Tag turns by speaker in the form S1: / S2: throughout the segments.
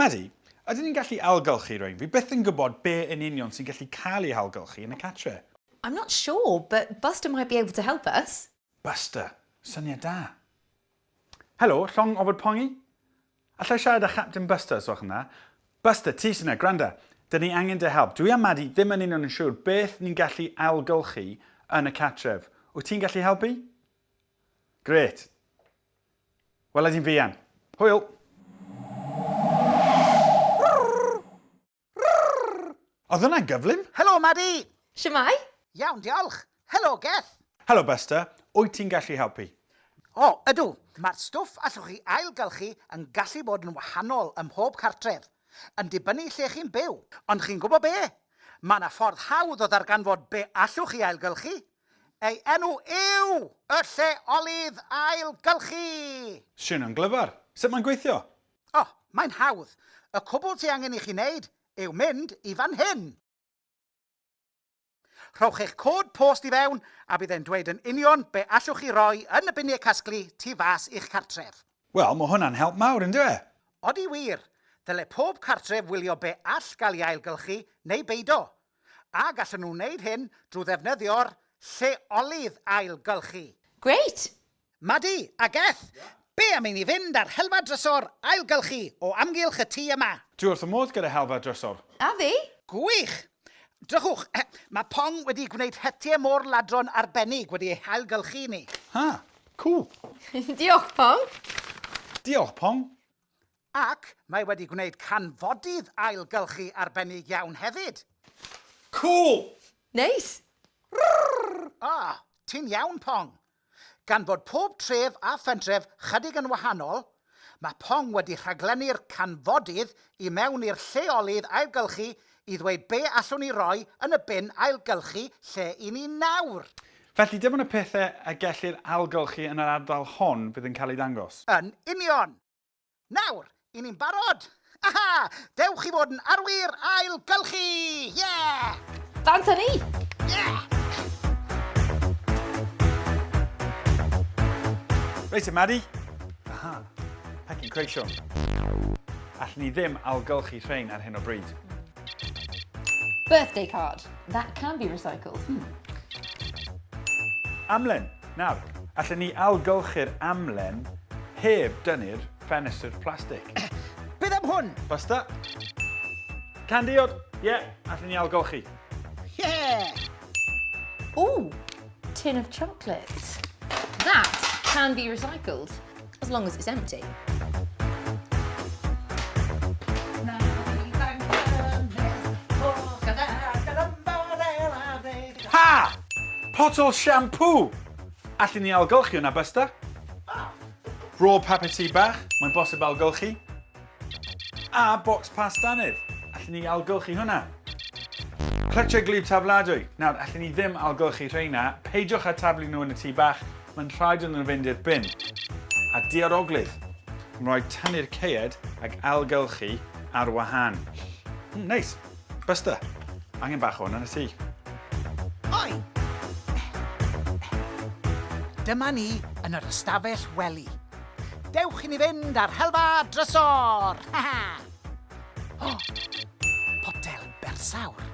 S1: Maddy, ydyn ni'n gallu ailgylchu rwy'n? Fi byth yn gwybod be yn union sy'n gallu cael ei hailgylchu yn y cartre. I'm not sure,
S2: but Buster might be able to help us. Buster.
S1: Syniad da. Helo, llong ofod pongi? Allai siarad â Chapten Buster os gwelwch yn dda? Buster, ti sy'n na, gwranda. Dyn ni angen dy help. Dwi a Madi ddim yn union yn siŵr beth ni'n gallu ailgylchu yn y cartref. Wyt ti'n gallu helpu? Gret. Wela di'n fuan. Hwyl! Rrrrrr! Oedd hwnna'n gyflym! Helo, Madi!
S3: Shwmae?
S2: Iawn, diolch!
S3: Helo, Geth! Helo, Buster!
S1: Wyt ti'n gallu helpu? O, ydw!
S3: Mae'r stwff allwch chi ailgylchu yn gallu bod yn wahanol ym mhob cartref, yn dibynnu lle chi'n byw. Ond chi'n gwybod be? Mae yna ffordd hawdd o ddarganfod be allwch chi ailgylchu. Ei enw yw y Lleolydd Ailgylchu! Swnio'n
S1: glyfar! Sut mae'n gweithio? O, mae'n
S3: hawdd. Y cwbl ti angen i chi wneud yw mynd i fan hyn. Rhowch eich cod post i fewn a bydd e'n dweud yn union be allwch chi roi yn y biniau casglu tu fas i'ch cartref. Wel, mae hwnna'n help
S1: mawr, yn dyw e? Odi wir!
S3: Dyle pob cartref wylio be all gael ei ailgylchu neu beido. A gallwn nhw wneud hyn drwy ddefnyddio'r lleolydd ailgylchu. Grêt!
S2: Madi,
S3: Ageth! Be am i ni fynd â'r helfa drysor ailgylchu o amgylch y tŷ yma? Dwi wrth fy modd gyda
S1: helfa drysor! A fi!
S2: Gwych!
S3: Drychwch, mae Pong wedi gwneud hetiau môr ladron arbennig wedi eu hailgylchu i ni. Ha! Cŵl!
S1: Diolch,
S2: Pong! Diolch,
S1: Pong! Ac
S3: mae wedi gwneud canfodydd ailgylchu arbennig iawn hefyd! Cŵl!
S1: Neis!
S2: Rrrrrr! O,
S3: ti'n iawn, Pong! Gan bod pob tref a phentref chydig yn wahanol, mae Pong wedi rhaglennu'r canfodydd i mewn i'r lleolydd ailgylchu i ddweud be allwn ni roi yn y bin ailgylchu lle i ni nawr. Felly, dim ond y
S1: pethau y gellir ailgylchu yn yr ardal hon fydd yn cael eu dangos. Yn union!
S3: Nawr, i ni'n barod! Aha! Dewch i fod yn arwyr ail gylchu! Yeah! Dant â ni! Yeah!
S1: Reit te, Maddy. Aha. Pecyn creision. Allwn ni ddim ailgylchu rhain ar hyn o bryd. Birthday
S2: card. That can be recycled. Hmm.
S1: Amlen. Nawr, allen ni ailgylchu'r amlen heb dynnu'r ffenestr plastig. Beth am hwn?
S3: Basta.
S1: Can diod! Ie, yeah, allen ni ailgylchu.
S3: Yeah!
S2: Ooh, tin of chocolate. That can be recycled. As long as it's empty.
S1: Ha! Potel siampŵ! Allen ni ailgylchu hwnna, Buster? Raw paper tee bach, mae'n bosib ailgylchu. A bocs pasta nid? Allen ni algylchu hwnna? Clytiau gwlyb tafladwy. Nawr, allen ni ddim algylchu rheina. Peidiwch â taflu nhw yn y tŷ bach. Mae'n rhaid iddyn nhw fynd i'r bin. A diaroglyd. Mae'n rhaid tynnu'r caead ac ailgylchu ar wahân. Mm, neis. Buster, angen bach o hwn yn y tŷ.
S3: Oi! Dyma ni yn yr ystafell wely. Dewch i ni fynd ar helfa drysor! Ha ha! O! Potel bersawr.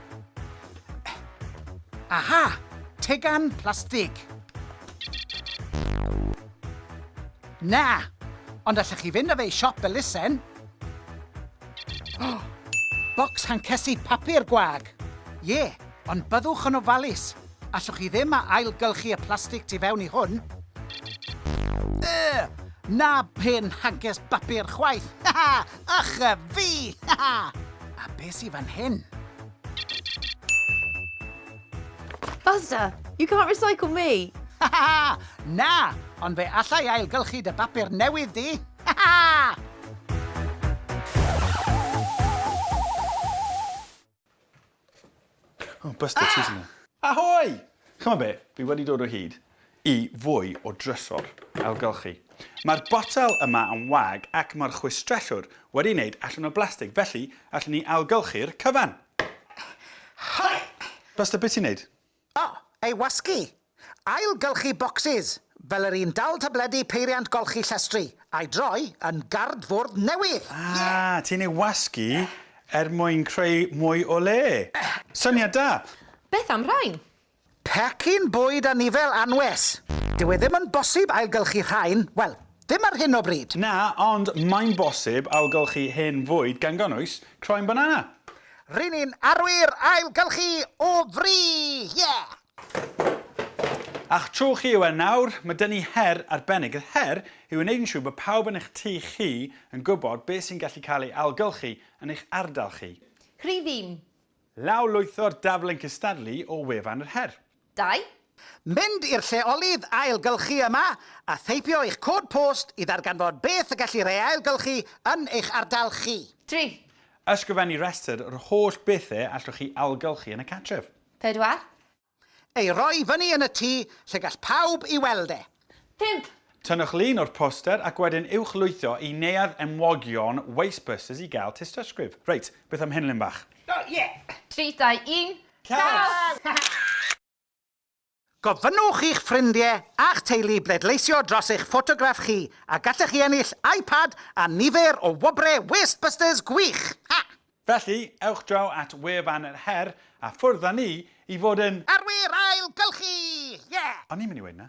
S3: Aha! Tegan plastig. Na! Ond allech chi fynd â fe i siop elusen. O! Bocs hancesi papur gwag. Ie, ond byddwch yn ofalus. Allwch chi ddim a ailgylchu y plastig tu fewn i hwn? Yy! Na pen hages bapur chwaith! Haha! Ych a fi! Haha! A be sy fan hyn?
S2: Buster, you can't recycle me! Haha! Na!
S3: Ond fe allai ailgylchu dy bapur newydd di! Haha!
S1: Oh, Buster ah! Cheese yna. Ahoy! Chymod be, fi wedi dod o hyd i fwy o drysor ailgylchu. Mae'r botel yma yn wag ac mae'r chwistrellwr wedi wneud allan o blastig, felly allen ni ailgylchu'r cyfan.
S3: Buster, beth ti'n neud?
S1: O!
S3: Ei
S1: wasgu!
S3: Ail-gylchu bocsys, fel yr un dal tabledi peiriant golchi llestri, a'i droi yn gardfwrdd newydd! Ie! Ah! Ti'n ei
S1: wasgu er mwyn creu mwy o le! Syniad da! Beth am rhain?
S2: Pecyn
S3: bwyd anifel anwes! Dyw e ddim yn bosib ailgylchu rhain, wel, ddim ar hyn o bryd. Na, ond
S1: mae'n bosib ailgylchu hen fwyd gan gynnwys croen banana. Ry'n ni'n
S3: arwyr ailgylchu o fri! Yeah!
S1: A'ch tro chi yw e nawr, mae 'da ni her arbennig. Y her yw yn wneud yn siŵr bod pawb yn eich tŷ chi yn gwybod beth sy'n gallu cael ei ailgylchu yn eich ardal chi. Rhydd un.
S2: Lawr lwytho'r
S1: daflen cystadlu o wefan yr her. Dau.
S2: Mynd i'r
S3: lleolydd ailgylchu yma a theipio eich cod post i ddarganfod beth y gellir ei ailgylchu yn eich ardal chi. Tri.
S2: Ysgrifennu
S1: rhestr yr holl bethau allwch chi ailgylchu yn y cartref. Pedwar.
S2: Ei
S3: roi fyny yn y tŷ lle gall pawb ei weld e. Pump!
S2: Tynnwch lun o'r
S1: poster ac wedyn ewch lwytho i Neuadd Enwogion Wastebursers i gael tystysgrif. Reit, beth am Henlyn Bach? O, ie! Tri,
S2: dau, un, Caws!
S3: Gofynnwch i'ch ffrindiau a'ch teulu bleidleisio dros eich ffotograff chi a gallech chi ennill iPad a nifer o wobrau Wastebusters gwych! Ha! Felly,
S1: ewch draw at wefan yr her a ffwrdd â ni i fod
S3: yn.
S1: Arwyr ailgylchu! Ie! O'n i'n mynd i weud 'na.